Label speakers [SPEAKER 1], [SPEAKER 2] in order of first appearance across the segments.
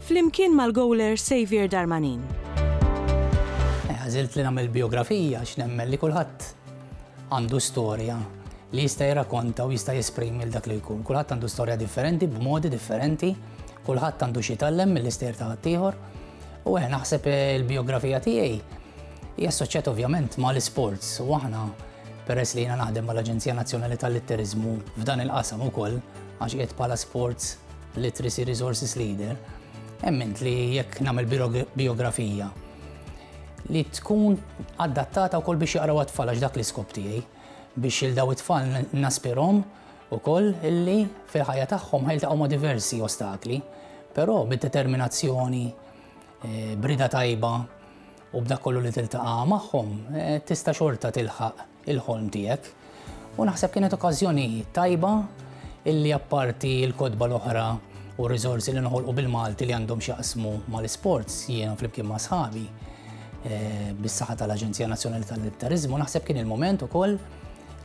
[SPEAKER 1] Flimkien mal-gowler Xavier Darmanin. Għażilt li nagħmel bijografija għax nemmen li kulħadd għandu storja li jista' jirrakonta u jista' jesprimi l dak li jkun. Kulħadd għandu storja differenti, b'modi differenti, kulħadd għandu xi tallem mill-ister ta' ħaddieħor. U eh naħseb eh, il-biografija tiegħi hija assoċjat ovvjament ma' l-sports u aħna peress li jiena naħdem mal-Aġenzija Nazzjonali tal-Litterizmu f'dan il-qasam ukoll għax qiegħed bħala sports Literacy Resources Leader, emmint li jekk nagħmel biografija li tkun adattata wkoll biex jaqraw għat-tfal għax dak l-iskop tiegħi biex il daw it-tfal naspirhom ukoll illi fil-ħajja tagħhom ħajltaqgħu ma' diversi ostakli, però bid-determinazzjoni, eh, brida tajba u b'dak kollu li tiltaqa' magħhom eh, tista' xorta tilħaq il-ħolm tiegħek. U naħseb kienet okkażjoni tajba illi apparti l-kotba l-oħra u r-riżorsi li noħolqu bil-Malti li għandhom x'jaqsmu mal-isports jiena flimkien ma' sħabi eh, bis-saħħa tal-Aġenzija Nazzjonali tal-Militarizmu naħseb kien il-moment ukoll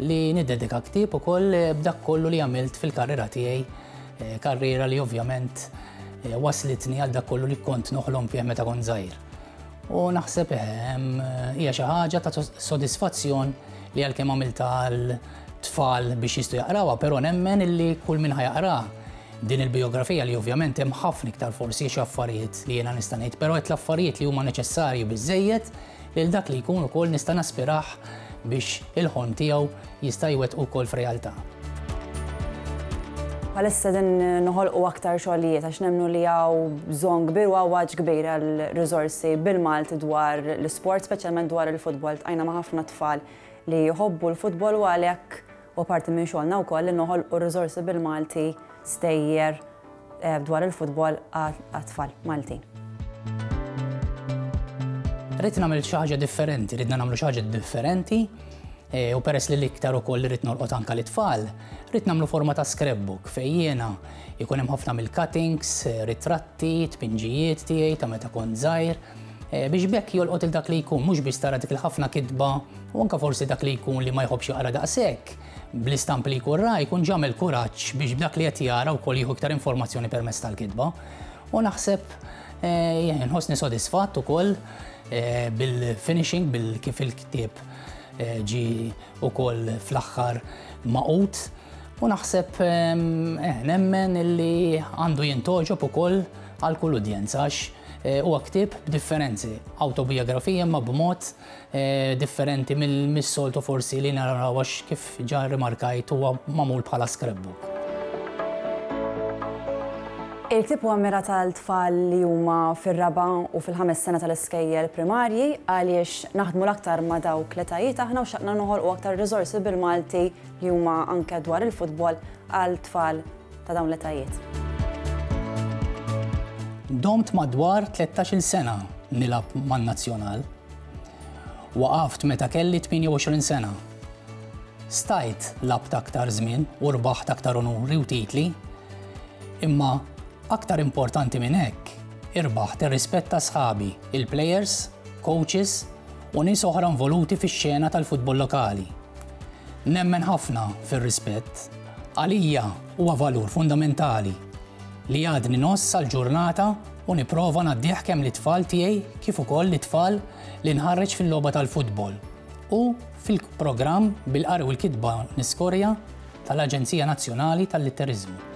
[SPEAKER 1] li niddedika ktieb ukoll eh, b'dak kollu li għamilt fil-karriera tiegħi, eh, karriera li ovvjament waslitni għal dak kollu li kont noħlom fih meta kont żgħir. U naħseb ehm, hija xi ħaġa ta' sodisfazzjon li għalkemm għamilta għal tfal biex jistu jaqrawha, però nemmen illi kull min ħajaqra din il-biografija li ovvjament hemm ħafna iktar forsi xi affarijiet li jiena nista' ngħid, però qed l-affarijiet li huma neċessarji biżejjed lil dak li jkun ukoll nista' naspirah biex il-ħon tiegħu jista' jwettqu wkoll f'realtà. Bħalissa qegħdin noħolqu aktar xogħlijiet għax nemmnu li hawn bżonn kbir u għawaġġ kbir għal riżorsi bil-Malti dwar l-isport, speċjalment dwar il-futbol. Ltqajna ma' ħafna tfal li jħobbu l-futbol u għalhekk huwa parti minn xogħolna wkoll li noħolqu riżorsi bil-Malti, stejjer, eh, dwar il-futbol għat-tfal Maltin. Rrit nagħmel xi ħaġa differenti, rridna nagħmlu xi ħaġa differenti eh, u peress li l-iktar ukoll rrid norqod anka l-itfal, rrid nagħmlu forma ta' scrapbook fejjena jkun hemm ħafna mill-cuttings, eh, ritratti, tpinġijiet tiegħi ta' meta kont żgħir Eh, biex bekk jolqot il-dak li jkun, mux biex tara dik il-ħafna kitba, u anka forsi dak li jkun li ma jħobx jaqra daqsek. bl-istampi li jkun ra jkun ġamel kuraġġ biex b'dak li qed jara wkoll jieħu iktar informazzjoni permezz tal-kitba. U naħseb eh, nħossni sodisfatt ukoll eh, bil-finishing bil kif il-ktieb eh, ġi ukoll fl-aħħar maqut u naħseb nemmen illi għandu jintoġob ukoll għal kull udjenza għax huwa ktieb b'differenzi, autobiografija ma b'mod differenti mis-soltu forsi li naraw għax kif ġa rimarkajt huwa magħmul bħala scrapbook. Il-ktieb huwa mmirat għal tfal li huma fir-raba' u fil-ħames sena tal-iskejjel primarji għaliex naħdmu l-aktar ma' dawk l-etajiet aħna u xtaqna noħolqu aktar riżorsi bil-Malti li huma anke dwar il-futbol għal tfal ta' dawn l-etajiet. Domt madwar 13-il sena nilgħab man-nazzjonal. Waqaft meta kelli 28 sena. Stajt lgħabt aktar żmien u rbaħt aktar unuri u titli, imma aktar importanti minn hekk irbaħt ir-rispett ta' sħabi, il-plejers, coaches u nies oħra involuti fix-xena tal-futbol lokali. Nemmen ħafna fir-rispett. Għalija huwa valur fundamentali li għadni ngħożż sal-ġurnata u nipprova ngħaddih kemm lit-tfal tiegħi kif ukoll lit-tfal li nħarreġ fil-logħba tal-futbol u fil-programm bil-qari u l-kitba niskorja tal-Aġenzija Nazzjonali tal-Litteriżmu.